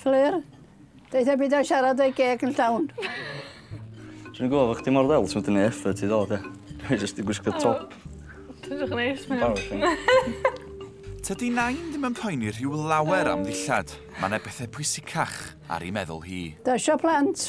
Fflur, deutha byd o siarad o'i geg yn llawn. Dwi'n gwybod bod chdi mor ddel, ti'n mynd i effort i ddod e. Dwi'n just i gwisgo top. Ti'n dwi'n neis, mae'n Tydi Nain ddim yn poeni rhyw lawer am ddillad. Mae yna bethau pwysicach ar ei meddwl hi. Dasio plant,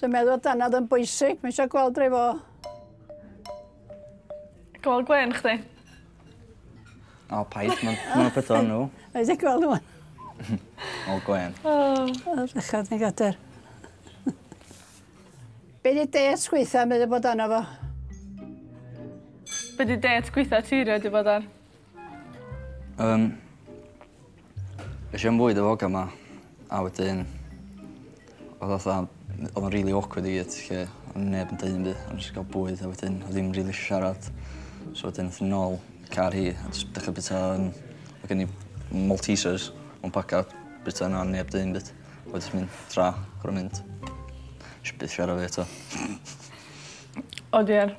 Dwi'n meddwl bod dannedd yn bwysig. Mae eisiau gweld rei fo. Gol gwen chdi. O, paid. Mae'n peth o'n nhw. Mae eisiau gweld nhw. O, gwen. O. O, ddechrau ni gader. Be di det gweitha meddwl bod anna fo? Be di det gweitha ti rhaid i bod ar? Um, eisiau am fwyd o foga yma, a wedyn... Oedd oedd oedd o'n really awkward i gyd, lle o'n neb yn dweud byd, o'n jyst gael bwyd a wedyn oedd ddim really siarad. So wedyn oedd yn ôl car hi, a jyst dechrau bita yn... Mae gen i Maltesers, o'n paca bita yna, neb dweud byd. Wedyn mynd tra, gorau mynd. Eisiau byd siarad fi eto. O diar.